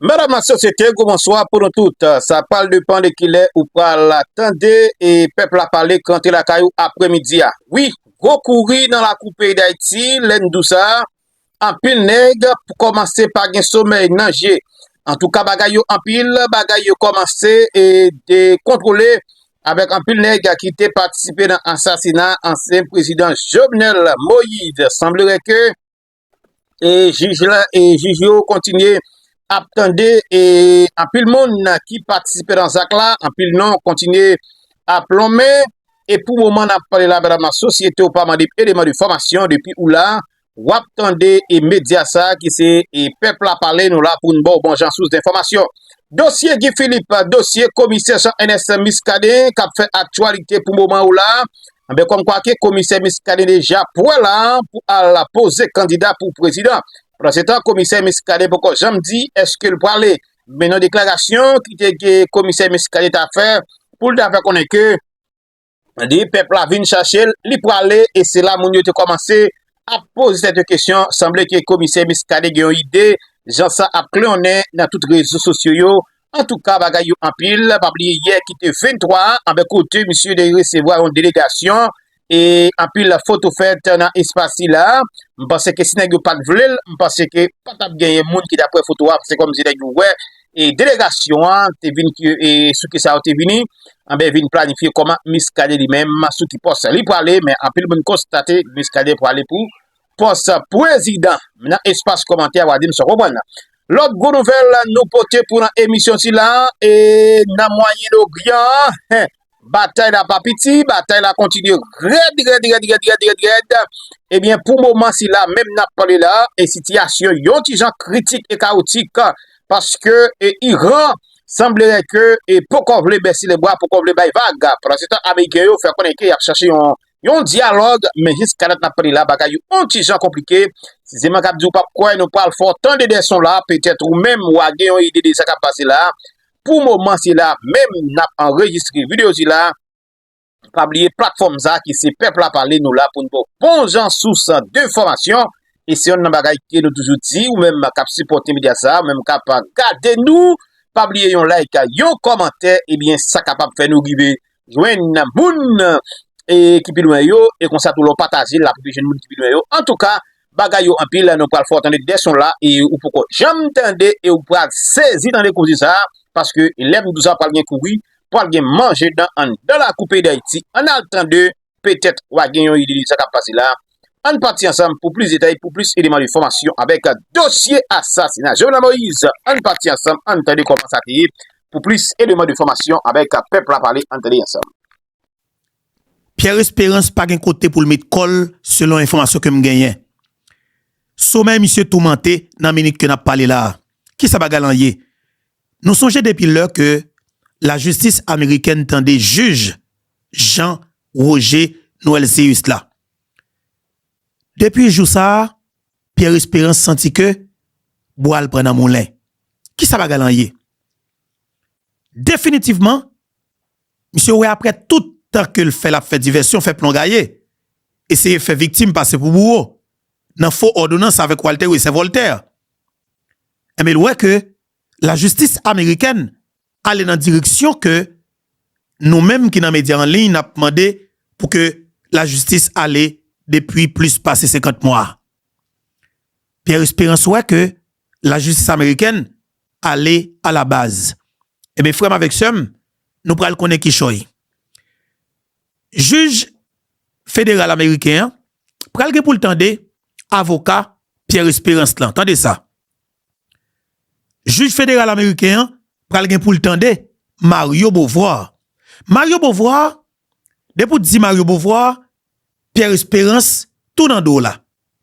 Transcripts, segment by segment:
Mèdam la sosyete, gwo bonswa pou nou tout. Sa pal de pan de kilè ou pal la tande e pèp la pale kante lakay ou apre midi a. Wi, gwo kouri nan la kou peyi d'Ayiti, lè n dou sa, anpil nèg pou kòmanse pa gen somèy nan je. An tou ka bagay yo anpil, bagay yo kòmanse e de kontwole avèk anpil nèg ki te patisipe nan asasina ansyen prezidan Jovenel Moïse. Sanblere ke. e jij la e jij yo kontinye ap tande e anpil moun nan ki patisipe nan zak la anpil non kontinye ap lonmen e pou moman nan pale la bèdam nan sosyete ou pa mande eleman de fòmasyon depi ou la wap tande e medya sa ki se e pèp la pale nou la pou n bò bon jan sous de fòmasyon dosye gifilip dosye komisè san enèsè miskaden kap fè aktualite pou moman ou la Anben kòm kwa ke komisè Miskaden deja pwè la pou al la poze kandida pou prezidan. Pandan se tan komisè Miskaden poko janm di eske l pwale. Men yon deklarasyon ki te ke komisè Miskaden ta fè pou l ta fè konnen ke li pèp la vin chache l li pwale e se la moun yo te kòmanse ap poze tèt yo kesyon sanble ke komisè Miskaden gen yon ide jan sa ap kleyonnen nan tout rezo sosyo yo Antouka bagay yo anpil, pa bliye yè ki te 23 anben kote misye te resevwa yon delegasyon e anpil foto fèt nan espas sila, m panse ke si nèg yo pat vle l, m panse ke pa tap genyen moun ki tap wè foto a, se kòmsi nèg yo wè e delegasyon an te vin ki e sou ki sa yo te vini, anben vin planifye kòman Miskaden li menm sou ki pòs li prale, men anpil moun konstate Miskaden prale pou pòs prezidan nan espas kòmantè wa dim sa w konprann nan. Lòt gwo nouvèl nou pote pou nan emisyon sila e nan mwayen oryan hen batay la pa piti batay la kontinye rèd rèd rèd rèd rèd rèd rèd ebyen pou moman sila menm nan pale la e sitiyasyon yon ti jan kritik e kaotik paske e iran sanblere ke e pokò vle bèsi le bwa pokò vle bay vag pran se tan ameriken yo fè konnen ke y ap chache yon Yon dyalòg, men jiskadat n ap pale la bagay yo on ti jan konplike, si se mwen k ap di ou p ap kwè, nou pral fè w tande de son la, petèt ou menm wa gen yon ide de sa k ap pase la, pou moman se la menm n ap anrejistre videyo sila, pa bliye platfòm sa ki se pèp la pale nou la pou n ba w bon jan sous de fòmasyon, e se yonn nan bagay ke nou toujou di ou menm k ap sipòte medya sa, ou menm k ap gade nou, pa bliye yon like, yon kòmantè, ebyen sa kapab fè nou rive jwenn moun ki pi lwen yo, e konsa tou lè w pataje l la ap rive jwenn moun ki pi lwen yo. Antouka, bagay yo anpil, nou pral fè w tande de son la e ou poko janm tande e ou pral sezi tande koze sa a, paske lè m di w sa pral gen kouri, pral gen manje dan anndan lakou peyi Dayiti. Ann al tande Petèt wa gen yon ide de sa kap pase la. Ann pati ansanm pou plis detay pou plis eleman de fòmasyon avèk dosye asasina Jovenel Moïse. Ann pati ansanm ann tande kòman sa te ye pou plis eleman de fòmasyon avèk pèp la pale ann tande ansanm. Pierre Esperance pa gen kote pou l met kò l selon enfòmasyon ke m genyen. Somèy misye toumante nan minit ke n ap pale la a. Kisa bagay lan ye? Nou sonje depi lè ke lajistis amerikèn tande jij Jean Roger Noëlceus la. Depi jou sa a, Pierre Espérance santi ke bwa l pran nan moulen. Ki sa bagay lan ye? Definitivman, misye wè aprè tout tan ke l fè l ap fè divèsyon, fè plon gaye, eseye fè viktim pase pou bouwo, nan fo òdonans avèk Walter Wessè Voltaire, enben l wè ke lajistis amerikèn ale nan direksyon ke nou menm ki nan medya an liy nap mande pou ke lajistis ale depi plis pase 50 mwa a. Pierre Esperance wè ke lajistis amerikèn ale alabaz. Enben frèm avèk sèm, nou pral konnen kichòy. Jij federal ameriken an pral gen poul tande avoka Pierre Esperance lan. Tande sa. Jij federal ameriken an pral gen pou l tande Mario Beauvoir. Mario Beauvoir, depi w di Mario Beauvoir, Pierre Espérance tou nan do w la.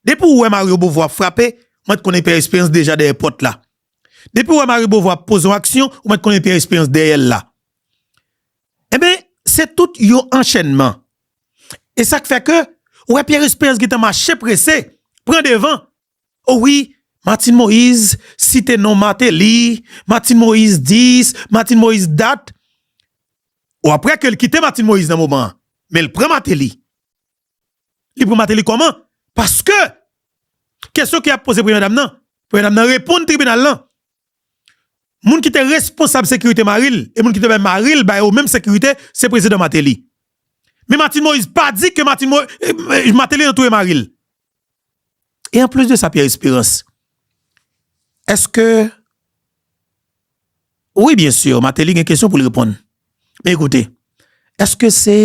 Depi w wè Mario Beauvoir ap frape, ou mèt konnen Pierre Espérance deja dèyè pòt la. Depi w wè Mario Beauvoir ap poze yon aksyon, ou mèt konnen Pierre Espérance dèyè l la. Enben, se tout yon anchènman. E sa k fè ke ou wè Pierre Espérance gentan mache prese, pran devan, O wi Martine Moise site non Martelly, Martine Moise dis, Martine Moise dat, o aprè ke l kite Martine Moise nan moman an, men l pran Martelly. Li pran Martelly kòman? Paske kesyon ke y ap poze premyè dam nan, premyè dam nan reponn tribinal lan, moun ki te responsab sekirite mari l e moun ki te bay mari l ba yo menm sekirite se prezidan Martelly. Men Martine Moise pa di ke Martine Moise, Martelly nan touye mari l. E an plis de sa Pierre Esperance, eske, wi byen sur Martelly gen kesyon pou li reponn, men ekoute, eske se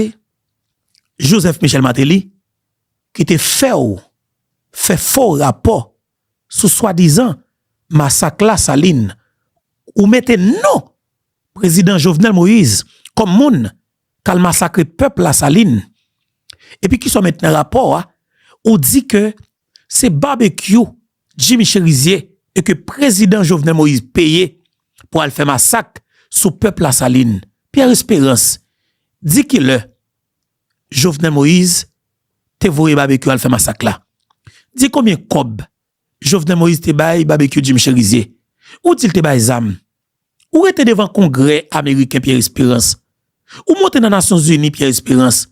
Joseph Michel Martelly ki te fè w fè fo rapò sou swadizan masak la Saline, ou mete non Prezidan Jovenel Moïse kòm moun tal masakre pèp la salin epi kisa w met nan rapò a ou di ke se babekyou jimmy cherizier e ke prezidan jovenel moïse peye pou al fè masak sou pèp la salin pierre esperans di ki lè jovenel moïse te voye babekyou al fè masak la di konbyen kòb jovenel moïse te bay babekyou jimmy cherizier ou di l te bay zam Ou rete devan kongrè ameriken Pierre Esperance, ou monte nan nasyon zini Pierre Esperance,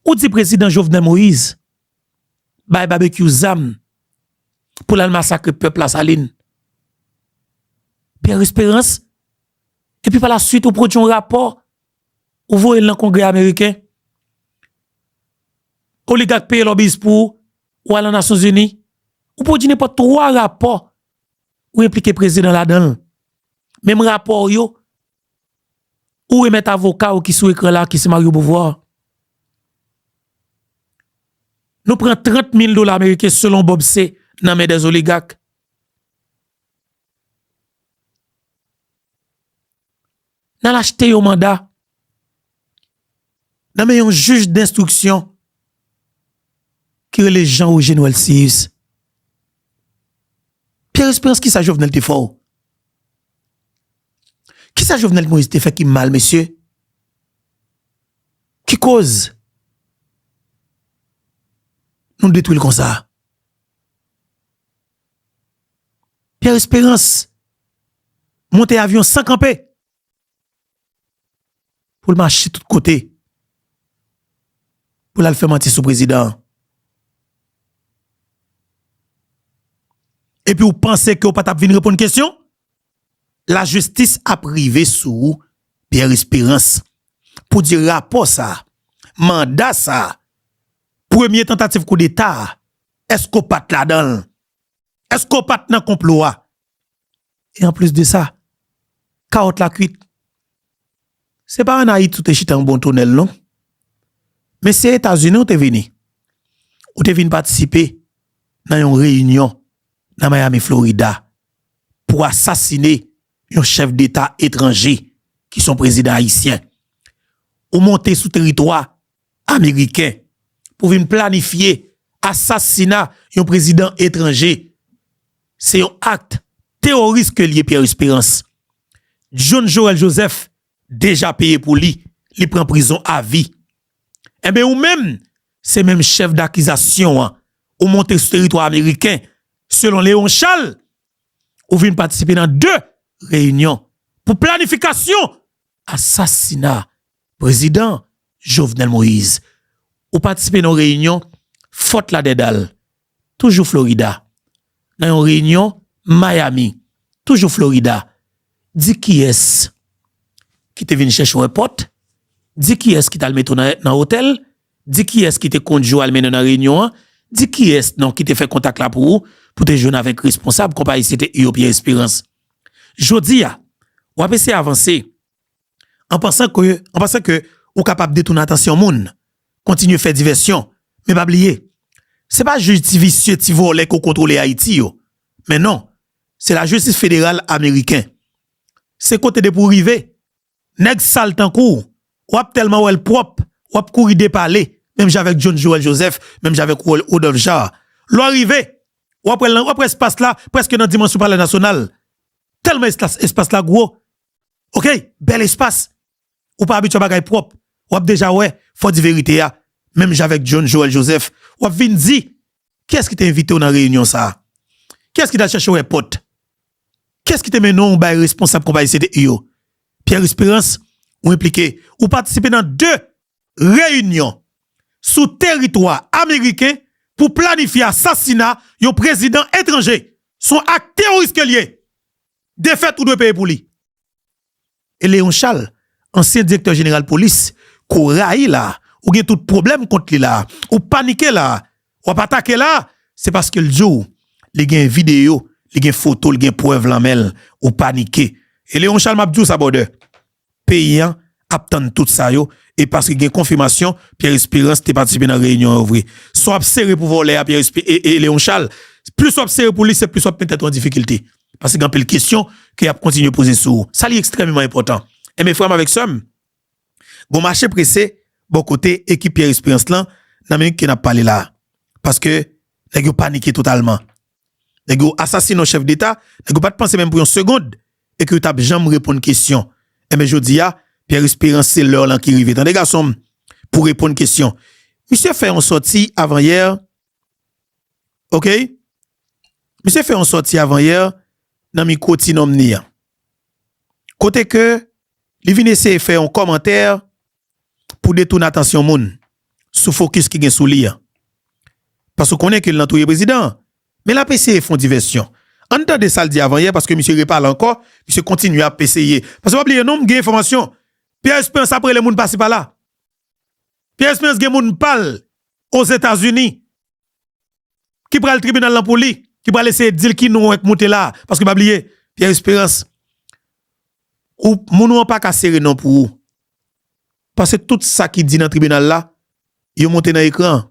ou di prezidan Jovenel Moïse bay babekyou zam pou lal masakre pèp la salin Pierre Esperance epi pa la suite ou pwodui yon rapò ou voye l nan kongrè ameriken oligak peye lòbis pou ou al nan nasyon zini ou pwodui nenpòt 3 rapò ou enplike prezidan ladan l. Menm rapò w yo, ou remèt avoka w ki sou ekran la, ki se Mario Beauvoir. Nou pran 30 mil dola ameriken selon Bob C. nan men dè zoligak. nan al achte yon manda nan men yon jij denstriksyon ki rele Jean Ogé Noël Cius. Pierre Espérance ki sa Jovenel te fè w? Ki sa Jovenel Moïse te fè ki mal mesye? Ki koz nou detwi l konsa? Pierre Espérance monte avyon san kanpe pou l mache tout kote pou l al fè manti sou prezidan an. Epi ou panse ke ou pa t ap vin reponn kesyon? Lajistis ap rive sou ou Pierre Espérance pou di rapò sa a, manda sa a, premye tantativ koudeta a Eske w pat ladan l? Eske w pat nan konplo a? E anplis de sa, kawòt la kwit. Se pa an Ayiti w te chita yon bon tonèl non. Men se Etazini w te vini. Ou te vin patisipe nan yon reyinyon nan Miami, Florida, pou asasine yon chèf deta etranje ki se yon prezidan ayisyen. Ou monte sou teritwa Ameriken pou vin planifye asasina yon prezidan etranje. Se yon akt teworis ke l ye Pierre Espérance. John Joël Joseph deja peye pou li, li pran prizon a vi. Enben ou menm se menm chèf dakizasyon an ou monte sou teritwa ameriken selon Léon Charles ou vin patisipe nan 2 reyinyon pou planifikasyon asasina prezidan Jovenel Moïse ou patisipe nan yon reyinyon Fort Lauderdale, toujou Florida, nan yon reyinyon Miami, toujou Florida, di kiyès ki te vin chèche w èpòt, di kiyès ki t al mete w nan otèl, di kiyès ki te kondui w al mennen w nan reyinyon an, di kiyès non ki te fè kontak la pou ou pou te jwenn avèk responsab konpayi se te Uo Pierre Espérance. Jodi a, w ap eseye avanse an pansan ke, an pansan ke ou kapab detounen atansyon moun, kontinye fè divèsyon, men pa bliye, se pa jij ti visye, ti vòlè ke w kontwole Ayiti yo, men non, se lajistis federal ameriken. Se kote depi w rive, nèg sal tankou w wap tèlman wè l pwòp wap kouri depale menm jan avèk John Joel Joseph menm jan avèk Rodolphe Jean lè w rive wap wè l wap wè espas la prèske nan dimansyon palè nasyonal tèlman espas la gwo ok bèl espas ou pa abitye a bagay pwòp wap deja wè fò di verite a menm jan avèk John Joel Joseph wap vin di kiyès ki te envite w nan reyinyon sa kiyès ki t al chèche w èpòt. Kès ki te mennen w bay responsab konpayi CDI yo? Pierre Esperance, Ou enplike, ou patisipe nan 2 reyinyon sou teritwa ameriken pou planifye asasina yon prezidan etranje. Son ak teworis ke l ye. Defèt ou dwe peye pou li. e Léon Charles ansyen direktè jeneral polis ke w rayi la, ou gen tout pwoblèm kont li la, ou panike la, w ap atake la, se paske l di w li gen videyo, li gen foto, li gen prèv lan men l, ou panike. E Léon Charles m ap di w sa bròdè, peyi an ap tann tout sa yo e paske gen konfimasyon Pierre Espérance te patisipe nan reyinyon yo vre. Sa w ap sere pou vòlè a Pierre Espé e Léon Charles, plis w ap sere pou li se plis w ap met tèt ou an difikilte. Paske gen anpil kesyon ke y ap kontinye poze sou ou. Sa li ekstrèmeman enpòtan. Enben frè m avèk sè m, gon mache prese bò kote ekip Pierre Espérance lan nan minit ke n ap pale la a. Paske nèg yo panike totalman. Nèg yo asasine yon chèf deta, nèg yo pa t panse menm pou yon segond e ke yo t ap janm reponn kesyon. Enben jodi a, Pierre Espérance se lè w lan ki rive tande gason m, pou reponn kesyon. Misye fè yon sòti avan yè, okay, Misye fè yon sòti avanyè nan mikwo Ti Nonm ni an, kote ke li vin eseye fè yon kòmantè pou detoune atansyon moun sou fokis ki gen sou li an. Paske ou konnen ke l nan touye prezidan an. Men l ap eseye fè yon divèsyon. Ann tande sa l di avanyè paske misye repale ankò, misye kontinye ap eseye. Paske pa bliye non, m gen enfòmasyon. Pyè Esperans ap rele moun pasi pala. Pyè Esperans gen moun pa l Ozetazini ki pral tribinal lan pou li, ki pral eseye di l ki non w k moute la a. Paske pa bliye, Pierre Espérance, ou, moun ou an pa ka sere non pou ou. Paske tout sa ki di nan tribinal la, yo monte nan ekran an.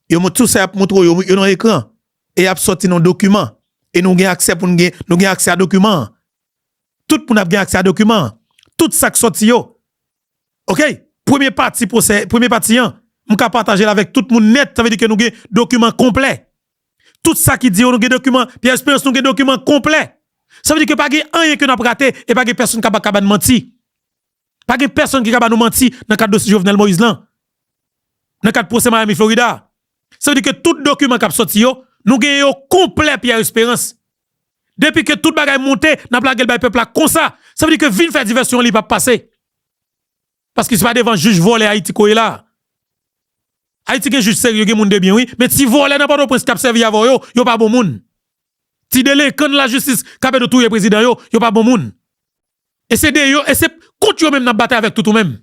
Yo monte, tout sa y ap montre w yo, yo nan ekran. E y ap sòti nan dokiman. E nou gen aksè pou nou gen, nou gen aksè a dokiman an. Tout moun ap gen aksè a dokiman an. Tout sa k sòti yo, ok premye pati pwosè premye pati an m ka patajel avèk tout moun nèt sa vle di ke nou gen dokiman konplè tout sa ki di yo nou gen dokiman Pierre Esperance nou gen dokiman konplè sa vle di ke pa gen anyen ke n ap rate e pa gen pèsonn k ap ka ba n manti pa gen pèsonn ki ka ba nou manti nan kad dosye Jovenel Moïse lan nan kad pwosè Miami Florida sa vle di ke tout dokiman k ap sòti yo nou gen yo konplè Pierre Esperance. Depi ke tout bagay monte nap lagel bay pèp la konsa sa vle di ke vin fè divèsyon an li pap pase paske se pa devan jij vòlè ayiti ko ye la ayiti gen jij serye gen moun debyen wi men ti vòlè nan pòtoprens kap sèvi avèw yo yo pa bon moun ti delenkan nan lajistis kap ede w touye prezidan yo yo pa bon moun. E se de yo, e se kont yo menm n ap batay avèk tout ou menm.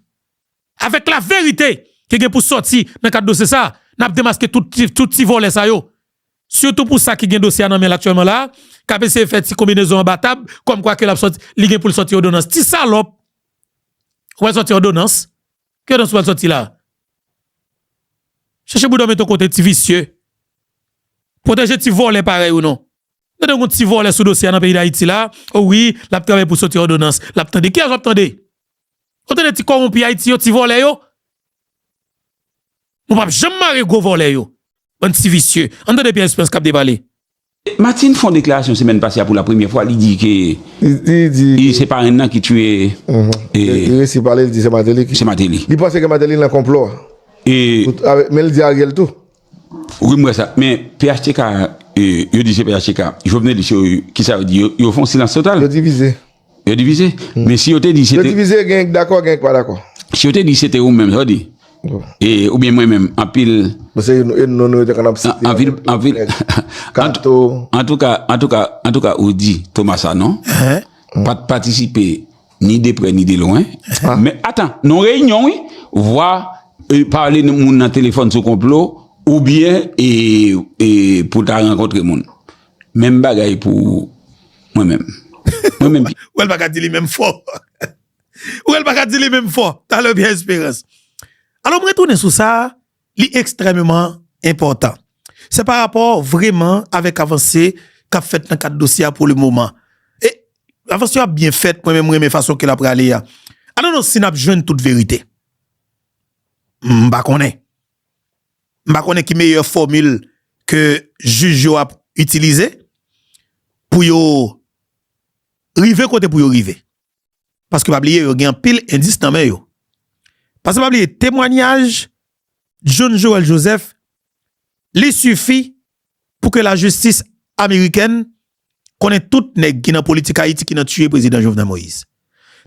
Avèk laverite ki gen pou sòti nan kad dosye sa a, n ap demaske tout ti vòlè sa yo. Sitou pou sa ki gen dosye a nan men l aktyèlman la a, k ap eseye fè ti konbinezon anba tab kòmkwa ke l ap sòti, li gen pou l sòti òdonans. Ti salòp! Ou pral sòti òdonans? Ki òdonans ou pral sòti la a? Chèche bouda w mete w kote ti visye. Pwoteje ti vòlè parèy ou non. Tande yon ti vòlè sou dosye a nan peyi dayiti la, o wi lap travay pou soti òdonans, lap tande, kiyès wap tande? Wap tande ti kòwonpi ayiti yo, ti vòlè yo? Nou pap janm mare gwo vòlè yo, bann ti visye, ann tande Pierre Esperance kap depale. Martine fon deklarasyon semèn pase a pou la premyè fwa li di ke li se parenn nan ki tiye li resi pale li di se Martelly ki se Martelly li panse ke Martelly nan konplo a men li di Ariel tou. Wi m wè sa, men phtk yo di se phtk, jovenelis yo kisa yo di, yo fon silans total. Yo divize. Yo divize, men si yo te di se te. Yo divize gen yon ki dakò gen yon ki pa dakò. Si yo te di se te ou menm sa w di? Ou byen mwen menm, anpil. Bon se yon non nou yo te konn ap site. Anpil, anpil. Kato. Antouka, antouka, antouka ou di Thomas Sanon pat patisipe. Ni de prè ni de lwen. Men atan, non reyinyon wi. Vwa pale nan moun nan telefon sou konplo ou byen e pou ta rankontre moun. Menm bagay pou mwen menm. Mwen menm. Ou el baka di li menm fò. Ou el baka di li menm fò. Talè byen esperans. Alò mwen tounen sou sa. li ekstrèmeman enpòtan. Se pa rapò vreman avèk avanse k ap fèt nan kad dosye a pou le moman. E avanse yo ap byen fèt, mwen menm m renmen fason ke l ap prale a. I don't know si n ap jwenn tout verite. M pa konnen. M pa konnen ki meyè fòmil ke jij yo ap itilize pou yo rive kote pou yo rive. Paske pa bliye yo gen anpil endis nan men yo. Paske pa bliye temwanyaj John Joel Joseph li sifi pou ke lajistis amerikèn konnen tout nèg ki nan politik Ayiti ki nan tiye prezidan Jovenel Moïse.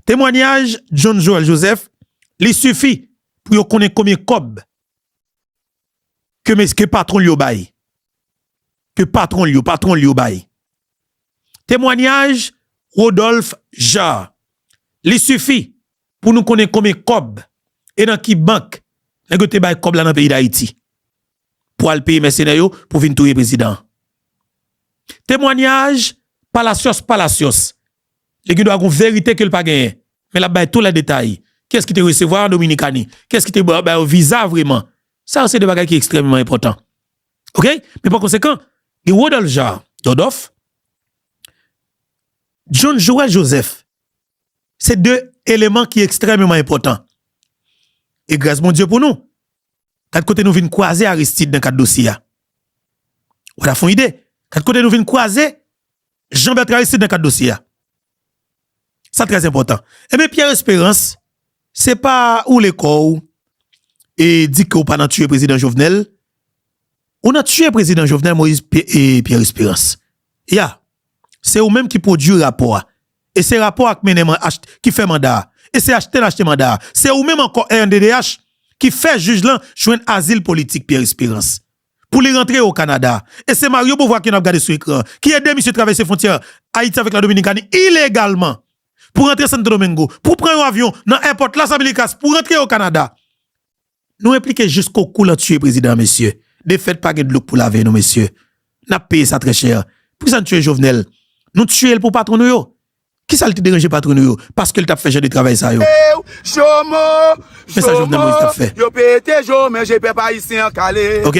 Temwanyaj John Joel Joseph li sifi pou yo konnen konbyen kòb ke mes ke patwon l yo bay. Ke patwon l yo, patwon l yo bay. Temwanyaj Rodolphe Jaar, Li sifi pou nou konnen konbyen kòb e nan ki bank nèg yo te bay kòb la nan peyi Dayiti pou al peye mèsenè yo pou vin touye prezidan an. Temwanyaj Palacios Palacios, Li gendwa gon verite ke l pa genyen, men l ap bay tou lè detay. Kiyès ki te resevwa an Dominikani? Kiyès ki te ba yo viza vreman? Sa yo se de bagay ki ekstrèmeman enpòtan. Ok men pa konsekan gen Rodolphe Jaar Dodof, John Joel Joseph se 2 eleman ki ekstrèmeman enpòtan e gras Bondye pou nou gad kote nou vin kwaze Aristide nan kad dosye a wala fon ide gad kote nou vin kwaze Jean Bertrand Aristide nan kad dosye a. Sa trè enpòtan. Enben Pierre Esperance, se pa woule kò w e di ke w pa nan tiye prezidan Jovenel. Ou nan tiye prezidan Jovenel Moïse e Pierre Esperance. Ya. Se ou menm ki pwodui rapò a. E se rapò a ki mennen mwen ach, ki fè manda a. E se achte l achte manda a. Se ou menm ankò rnddh ki fè jij lan jwenn azil politik Pierre Esperance. pou li rantre o Kanada. E se Mario Beauvoir ke nap gade sou ekran an, ki ede misye travèse fwontyè Ayiti avèk la Dominikani ilegalman pou rantre Santo Domingo, pou pran yon avyon nan èpòt Las Americas pou rantre o Kanada. Nou enplike jisko kou lan tiye prezidan an mesye. Defèt pa gen dlo k pou lave nou mesye. Nap peye sa trè chè. Poukisa n tiye Jovenel? Nou tiye l pou patwon nou yo. Kisa li te deranje patron nou yo paske li tap fè jan de travay sa yo? Eww jomo jomo yo pete jo men je pèp ayisyen an kale ok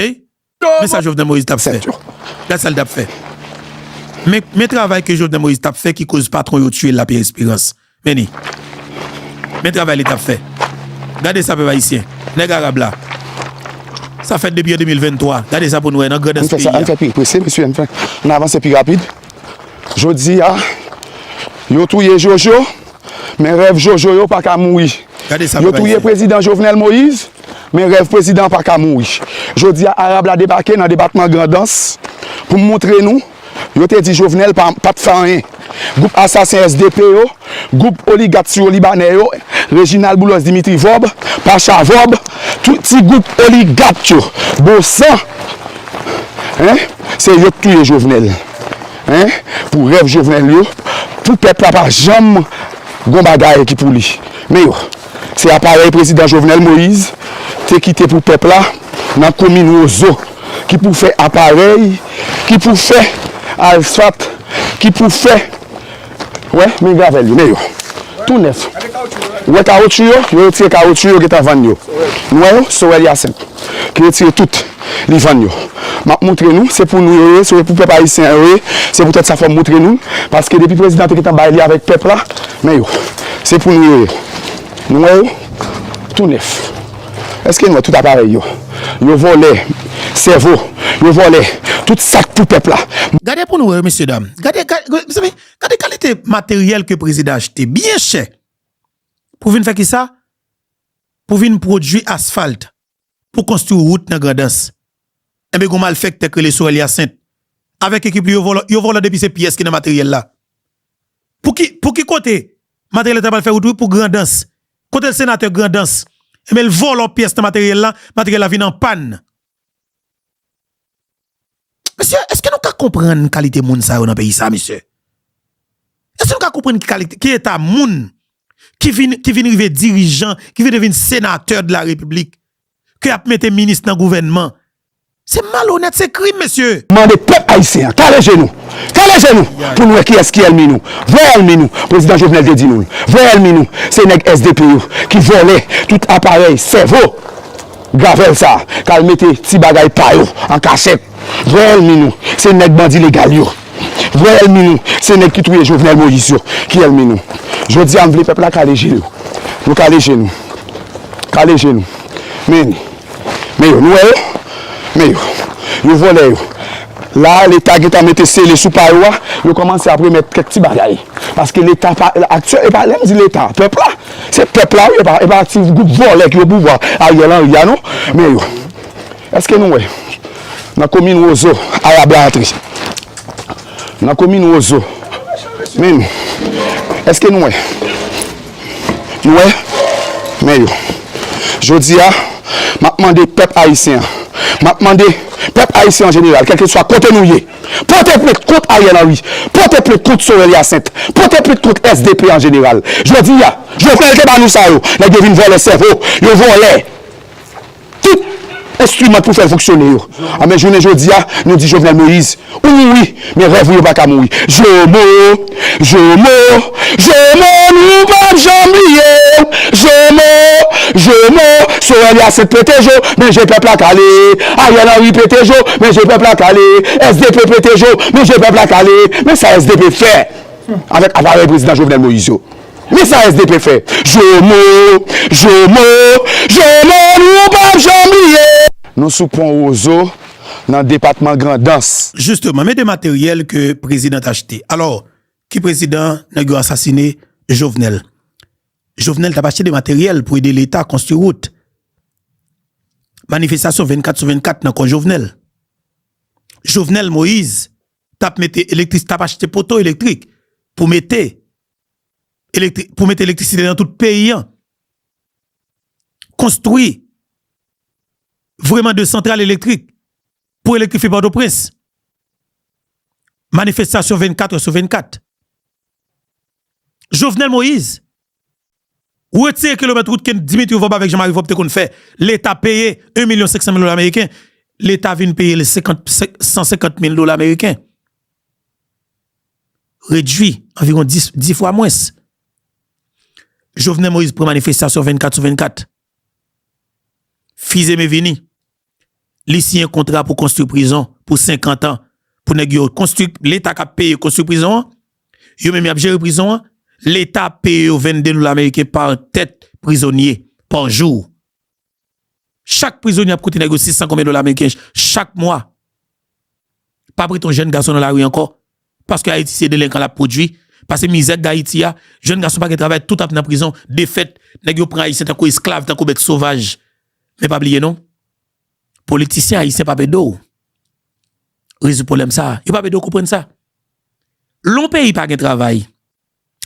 men sa jovenel moïse tap fè gad sa li tap fè men men travay ke jovenel moïse tap fè ki koz patron yo tiyel la pierre esperance men li men travay li tap fè gade sa pèp ayisyen nèg arab la sa fèt depi an 2023 gade sa pou nou wè nan grandans peyi a. Jodi a yo touye jojo men rèv jojo yo paka mouri yo touye prezidan jovenel moïse men rèv prezidan paka mouri jodi a arab la debake nan depatman grandans pou moutre nou yo te di jovenel pat fè anyen group asasen sdp yo. Gwoup oligat Siwolibanè yo, Reginald Boulos Dimitri Vorb, Pacha Vorb, tout ti gwoup oligat yo, Bosan, hein, se yo k touye Jovenel, hein, pou rèv Jovenel yo, pou pèp la pa janm gon bagay ki pou li. Men yo, se aparèy Prezidan Jovenel Moïse te kite pou pèp la nan komin Wozo ki pou fè aparèy, ki pou fè alsfat, ki pou fè Wè men gravèl yo, men yo. Tou nèf. Ou wè kawotchou yo, yo retire kawotchou yo gentan vann yo. Nou wè yo, Sorel Hyacinthe ki retire tout, li vann yo. M ap moutre nou, se pou nou yo ye, se pou pèp ayisyen an yo ye, se poutèt sa fò m moutre nou l, paske depi prezidan an te gentan bay li avèk pèp la, men yo. Se pou nou yo ye. Nou wè yo, tou nèf. Eske nou wè tout aparèy yo. Yo vòlè sèvo. Yo vòlè tout sak pou pèp la. Gade pou nou wè mesye dam. Gade mezanmi gade kalite materyèl ke prezidan achte byen chè pou vin fè kisa? Pou vin pwodui asfalt pou konstwi wout nan Grandans. Enben gon malfèktè k rele Sorel Hyacinthe avèk ekip li yo vòlò, yo vòlò depi se pyès ki nan materyèl la. Pou ki pou ki kote materyèl la ta pral fè wout wi pou Grandans. Kote l senatè Grandans. Enben l vòlò pyès nan materyèl la, materyèl la vin an pàn. Mesye èske nou ka konprann kalite moun sa yo nan peyi sa mesye? Èske nou ka konprann ki kalite, ki eta moun ki vin ki vin rive dirijan, ki vin devin senatè de la repiblik? ke yap mete minis nan gouvènman se malonèt se krim mesye. Mande pèp ayisyen an kale je nou kale je nou pou nou wè kiyès ki èlmi nou vrè èlmi nou prezidan jovenel te di nou l vrè èlmi nou se nèg sdp yo ki vòlè tout aparèy sèvo gravèl sa kal mete ti bagay pa yo an kachèt vrè èlmi nou se nèg bandi legal yo. Vrè èlmi nou se nèg ki touye Jovenel Moïse yo ki èlmi nou. Jodi a m vle pèp la kale je yo. Nou kale je nou. Kale je nou. Men li. Men yo. Nou wè yo? Men yo. Yo vòlè yo. La a leta gen tan mete sele sou pa yo a, yo kòmanse ap remèt kèk ti bagay. Paske leta pa aktyè, e pa lè m di leta, pèp la. Se pèp la wi, e pa ti gwoup vòlè ki o pouvwa Ariel Henry a non. Men yo. Eske nou wè nan komin rozo arab la antre nan komin rozo menm eske nou wè nou wè men yo jodi a map mande pèp ayisyen an map mande pèp ayisyen an jeneral kelke swa kote nou ye pote plent kont ariel henry pote plent kont sorel yasent pote plent kont svp an jeneral jodi a jovenel te ba nou sa yo nèg yo vin vòlè sèvo yo vòlè. Tout enstriman pou fèl fonksyone yo a men jounen jodi a nou di Jovenel Moïse ou mouri men rèv ou yo paka mouri Jomo Jomo Jomo nou pap janm bliye w Jomo Jomo Sorel Hyacinthe pete jo men je pèp la kale Ariel Henry pete jo men je pèp la kale SDP pete jo men je pèp la kale men sa SDP fè avèk aparèy prezidan Jovenel Moïse yo. Men sa SDP fè. Jomo! Jomo! Jomo nou pap janm bliye! Nou sou pon Rozo nan depatman Grandans. Justement, men de materyèl ke prezidan t achte. Alò, ki prezidan nèg yo asasine? Jovenel. Jovenel t ap achte de materyèl pou ede leta konstwi wout. Manifestasyon 24 sou 24 nan kò Jovenel. Jovenel Moïse t ap mete elektris, t ap achte poto elektrik pou mete. pou mete elektrisite nan tout peyi an, konstwi vreman de santral elektrik pou elektrifi Pòtoprens, manifestasyon 24 ou sou 24. Jovenel Moïse, wetire kilomèt wout ke Dimitri Vorbe avèk Jean-Marie Vorbe te konn fè, leta peye 1 milyon 500 mil dola meriken, leta vin peye 150 mil dola meriken. redwi anviwon 10 fwa mwens. Jovenel Moïse pran manifestasyon 24 sou 24. Fizeme vini. Li siyen kontra pou konstwi prizon pou 50 an pou nèg yo konstwi, leta k ap peye konstwi prizon an, yo menm y ap jere prizon an, leta ap peye yo 22 loul ameriken pa tèt prizonye pa jou. Chak prizonye ap koute nèg yo 600 konbyen dola meriken chak mwa. Pa prete yon jèn gason nan lari ankò, paske Ayiti se delenkan l ap pwodui, pase mizè k gen Ayiti a, jèn gason pa gen travay, tout ap nan prizon, defèt, nèg yo pran Ayisyen tankou esklav, tankou bèt sovaj. Men pa bliye non, politisyen ayisyen p ap ede w rezoud pwoblèm sa a, yo p ap ede w konprann sa. Lè yon peyi pa gen travay.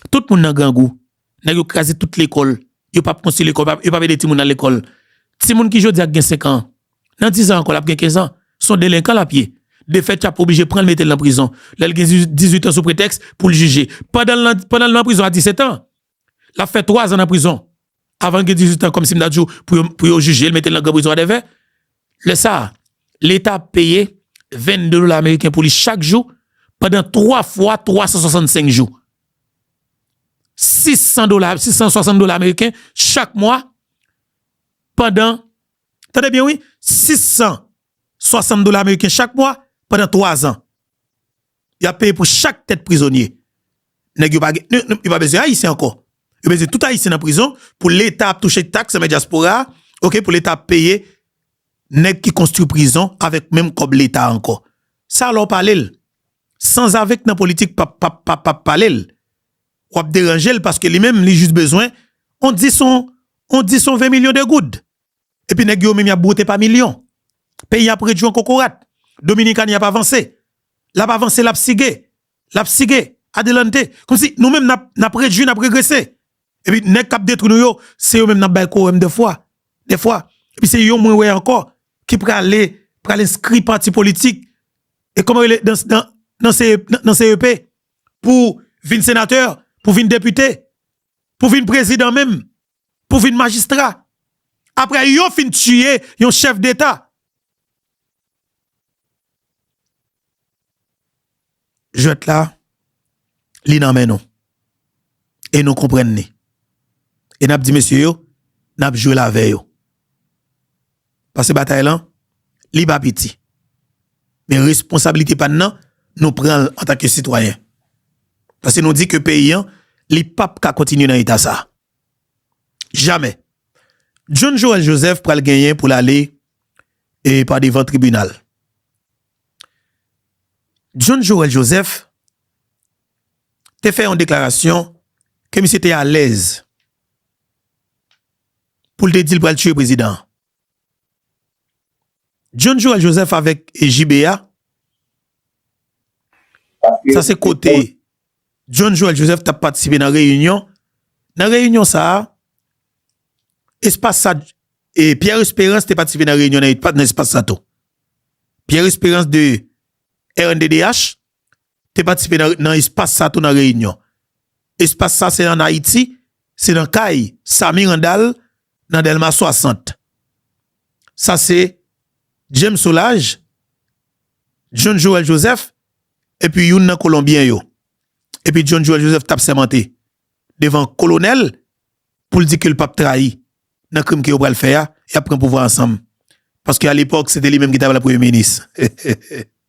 Tout moun nan grangou. Nèg yo kraze tout lekòl. Yo pap konstwi lekòl, yo pap ede timoun al lekòl. Timoun ki jodi a gen 5 an, nan 10 an ankò l ap gen 15 an. Son delenkan l ap ye. Defèt y ap oblije pran l mete l nan prizon lè l gen 18 an sou pretèks pou l jije. Pandan l nan prizon a 17 an, l ap fè 3 zan nan prizon. avan l gen 18 an kòmsi m ta di w pou yo jije l mete l nan gran prizon adèvè. Lè sa a, Leta ap peye 22 dola ameriken pou li chak jou pandan 3 fwa 365 jou. 600 dola, 660 dola ameriken chak mwa pandan, tande byen wi, 660 dola ameriken chak mwa pandan 3 zan. Yap peye pou chak tèt prizonye. Nèg yo pa gen, yo yo pa bezwen ayisyen ankò. Yo bezwen tout ayisyen nan prizon pou leta ap touche taks anba dyaspora a, ok pou leta ap peye nèg ki konstwi prizon avèk menm kòb leta a ankò. Sa lè w pale l. Sanzave k nan politik pa pa pa pa pale l. Wap deranje l paske li menm li jis bezwen on dis on on dis on 20 milyon de goud. Epi nèg yo menm yap bwote pa milyon. Peyi a ap redwi an kokorat. Dominikani ap avanse. Lap avanse lap sige. Lap sige. Adelante. Kòmsi nou menm nap redwi nap regrese. Epi nèg kap detwi nou yo se yo menm nap bay kowòm dèfwa. Dèfwa. Epi se yo mwen wè ankò ki prale pral enskri pati politik e kòman rele nan CEP pou vin senatè, pou vin depite, pou vin prezidan menm. pou vin majistra aprè yo fin tiye yon chèf deta jwèt la li nan men nou e nou konprann ni e nap di mesye yo nap jwel avè yo pase batay lan li pa piti men responsabilite pa nan nou pranl antake sitwayen pase nou di ke peyi an li pap ka kontinye nan eta sa. Jamè. John Joel Joseph pral genyen pou l ale e pa devan tribinal. John Joel Joseph te fè yon deklarasyon ke misye te alèz pou l te di l pral tiye prezidan an. John Joel Joseph avèk JBA Sa se kote John Joel Joseph tap patisipe nan reyinyon Nan reyinyon sa a Espas sa Pierre Esperance te patisipe nan reyinyon nan espas sa tou Pierre Esperance de rnddh te patisipe nan espas sa tou nan reyinyon. Espas sa se an Ayiti, se nan kay Samy Randal nan Delma 60. Sa se James Solage, John Joël Joseph epi youn nan kolonbyen yo. Epi John Joël Joseph tap sèmante devan kolonèl pou l di ke l pap trayi nan krim ke yo pral fè a, yap pran pouvwa ansanm. Paske alepòk se te li menm ki ta pral premye minis.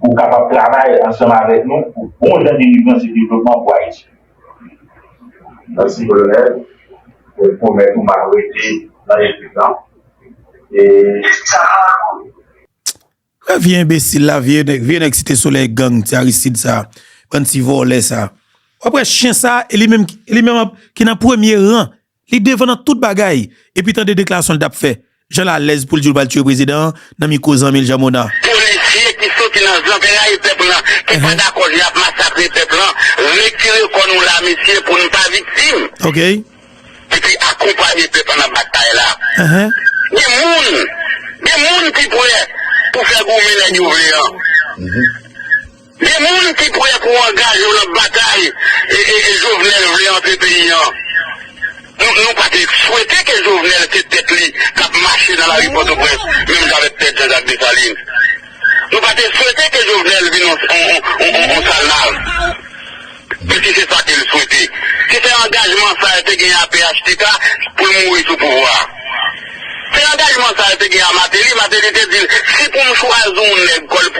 pou w kapab travay ansanm avèk nou pou bon jan delivrans e devlopman pou Ayiti. Mèsi Kolonèl, mwen pwomèt ou m ap rete nan ekip lan e sa pa la kouri. Wè vye enbesil la vye nèg vye nèg site solèy gang ti aristid sa bann ti vòlè sa wap wè chyen sa e li menm ki nan premye ran Li devan nan tout bagay. Epi tande deklarasyon li tap fè. Janl alèz poul diw pral tiye prezidan an nan mikro zanmil Jean Monard. Polisye ki soti nan zanterayil pèp lan ki pa dakò jan yap masakre pèp lan retire kò nou la mesye pou nou pa viktim epi akonpanye pèp lan nan batay la gen moun gen moun ki prè pou fè goumen nèg yo vle an. Gen moun ki prè pou angaje yo nan batay Jovenel vle antre peyi an. Nou pa te swete ke Jovenel se tèt li k ap mache nan lari Pòtoprens menm jan avèk tèt Jean-Jacques Dessalines. Nou pa te swete ke Jovenel vin yon salnav. Di si se sa ke l swete. Si se angajman sa yo te genyen a phtk pou l mouri sou pouvwa a. Se angajman sa yo te genyen a Mateli. Mateli te di l si pou m chwazi yon nèg kò l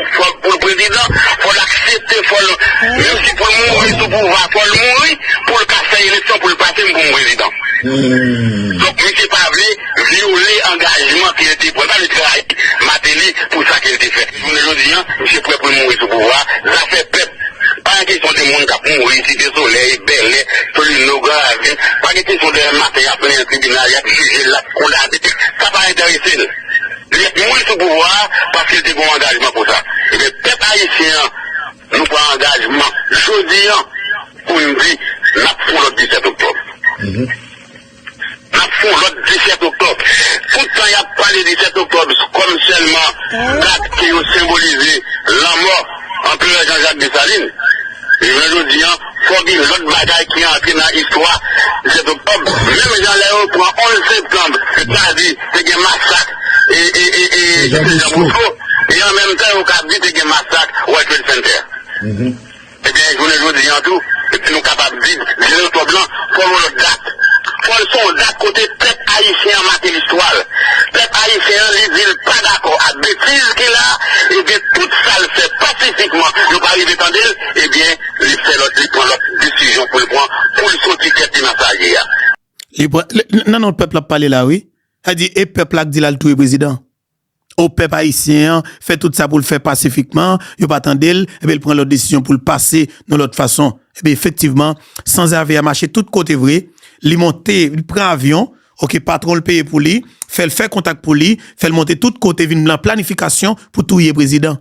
pou l prezidan, fò l aksepte, fò l, menm si pou l mouri sou pouvwa a, fò l mouri pou l ka fè eleksyon pou l pase m pou m prezidan. Donk misye pa vle vyole angajman ke l te pran. L pa vle trayi Mateli pou sa ke l te fè. Jounen jodi an, misye prè pou l mouri sou pouvwa a. Zafè pèp. Pa gen kesyon de moun k ap mouri Site Solèy, Bèlè, Solino, Gran Ravin. Pa gen kesyon demen maten y ap mennen l tribinal, y ap jije l, l ap kondane l. Sa pa enterese l. Li ap mouri sou pouvwa a paske l te gen yon angajman pou sa. Ebyen, pèp ayisyen an, nou pran angajman jodi an pou n di n ap fon lòt 17 oktòb. Ap fon lòt 17 oktòb. Tout tan y ap pale 17 oktòb kòm sèlman dat ke yo senbolize lanmò Anperè Jan Jak Desalin, jounen jodi an, fò gen lòt bagay ki antre nan istwa 17 oktòb. Menm jan lè yo pran 11 septanb, sètadi te gen masak Sèjan Bosko, e an menm tan yo kab di te gen masak World Trade Center. Ebyen jounen jodi an tou epi nou kapab di vil Oktòb lan fòl yon lòt dat. Fòl se yon dat kote pèp ayisyen an make listwa l. Pèp ayisyen an li di l pa dakò ak betiz ki la ebyen tout sa l fè pasifikman yo pa rive tande l ebyen li fè lòt li pran lòt desizyon pou l pran pou l soti tèt li nan sa l ye a. Li pran nan non pèp l ap pale la wi. Sa di e pèp la k di l al touye prezidan. O pèp ayisyen an fè tout sa pou l fè pasifikman, yo pa tande l, enben l pran lòt desizyon pou l pase nan lòt fason. Enben efektivman, sanzave a mache tout kote vre, li monte, li pran avyon, ok, patwon l peye pou li, fè l fè kontak pou li, fè l monte tout kote vin nan planifikasyon pou touye prezidan.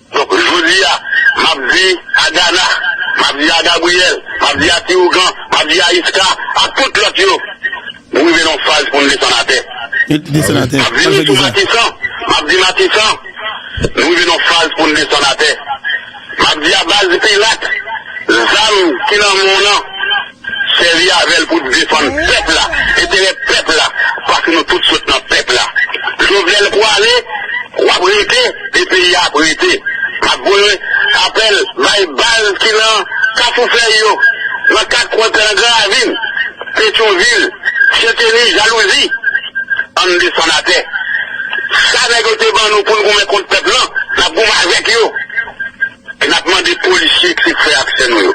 Donk jodi a, m ap di a Gana, m ap di a Gabriyèl, m ap di a Ti Ougan, m ap di a Iska ak tout lòt yo, nou rive nan yon faz pou nou desann atè. M ap vini sou Matisan, m ap di Matisan, nou rive nan yon faz pou nou desann atè. M ap di a Baz Pilat, zam ki nan men w lan. Sèvi avèl pou defann pèp la, enterè pèp la, paske nou tout sot nan pèp la. Jovenel pwale, wap rete e peyi a ap rete. Map voye apèl bay baz ki nan kafou fèy yo, nan kat kwen pè nan gran ravin, petyon vil, syenteni, jalouzi. Ann desann atè. Sa nèg yo te ban nou poun goumen kont pèp lan, nap goumen avèk yo. E nap mande polisye k se frè ak sè nou yo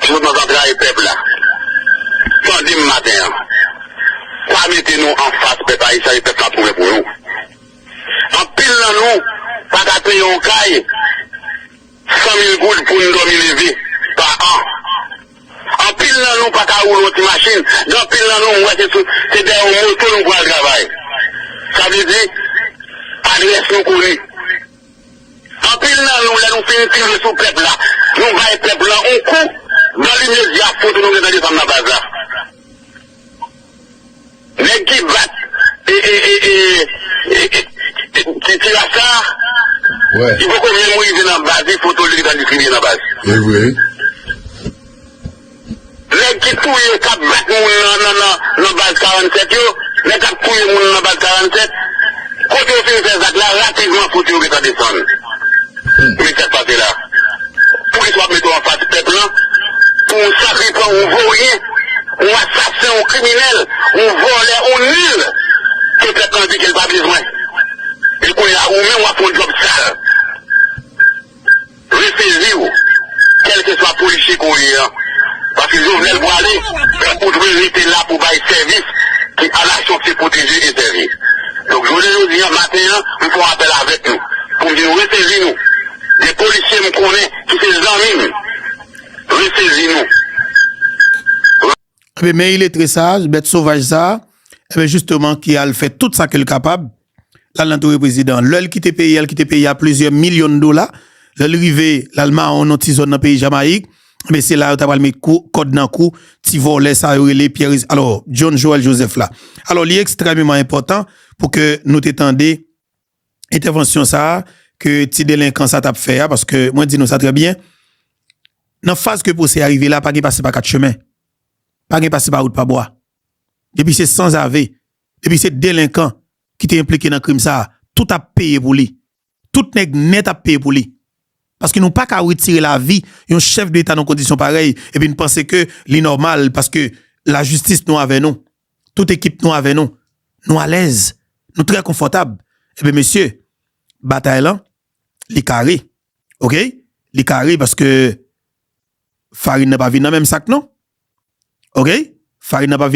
ki sot nan zantrayi pèp la tande m maten an pa mete nou anfas pèp ayisyen e pèp la ap goumen pou nou anpil nan nou paka peye yon kay 100 mil goud pou n dòmi leve pa an anpil nan nou paka woule yon ti machin gen anpil nan nou m wè se sou se dèyè yon moto nou pral travay sa vle di adrès nou koni. Anpil nan nou lè nou fin tire sou pèp la nou bay pèp lan on kou dan limedya foto nou gen tande sa m nan baz la nèg ki bat ti tiraj sa li poko menm rive nan baz li foto li gentan distribiye nan baz. Nèg ki touye kap bat moun nan nan nan nan baz 47 yo nèg kap touye moun nan baz 47 kote yo fin fè zak la rapidman fout yo gentan desann men sak pase la poukisa wap mete w anfas pèp lan pou w sakrifè on voryen on asasen on kriminèl on vòlè on nil ke pèp lan di kel pa bezwen e kounya ou menm wap fon djòb sal. Reseziw kelkeswa polisye ke w ye an paske jovenel pwale pran ou dwe rete la pou bay sevis ke a nasyon se pwoteje e sèvi donk jounen jodi an maten an m fon apèl avek nou poum di nou resezi nou gen polisye m konnen ki se zanmi m resezi nou. Ebyen men iletre sa, bèt sovaj sa, ebyen jisteman ki al fè tout sa ke l kapab. L al nan toure prezidan an. Lè l kite peyi a, l kite peyi a plizyè milyon dola. Lè l rive, l al mawon nan ti zòn nan peyi Jamayik. Enben, se la yo ta pral met kou, kòd nan kou ti vòlè sa yo rele Pierre, alò, John Joël Joseph la. Alò, li ekstrèmeman enpòtan pou ke nou te tande entèvansyon sa a ke ti delenkan sa t ap fè a, paske mwen di nou sa trè byen, nan faz ke pwosè a rive la, pa gen pase pa kat chemen. Pa gen pase pa wout pa bwa. Depi se sanzave, Depi se delenkan ki te enplike nan krim sa a, tout ap peye pou li. Tout nèg nèt ap peye pou li. Paske nou pa ka retire lavi yon chèf de eta nan kondisyon parèy epi n panse ke li nòmal paske lajistis nou avè nou. Tout ekip nou avè nou. Nou alèz. Nou trè konfòtab. Enben mesye, batay lan, li kare. Ok? Li kare paske farin nan pa vin nan menm sak non. Ok? Farin nan pa vin.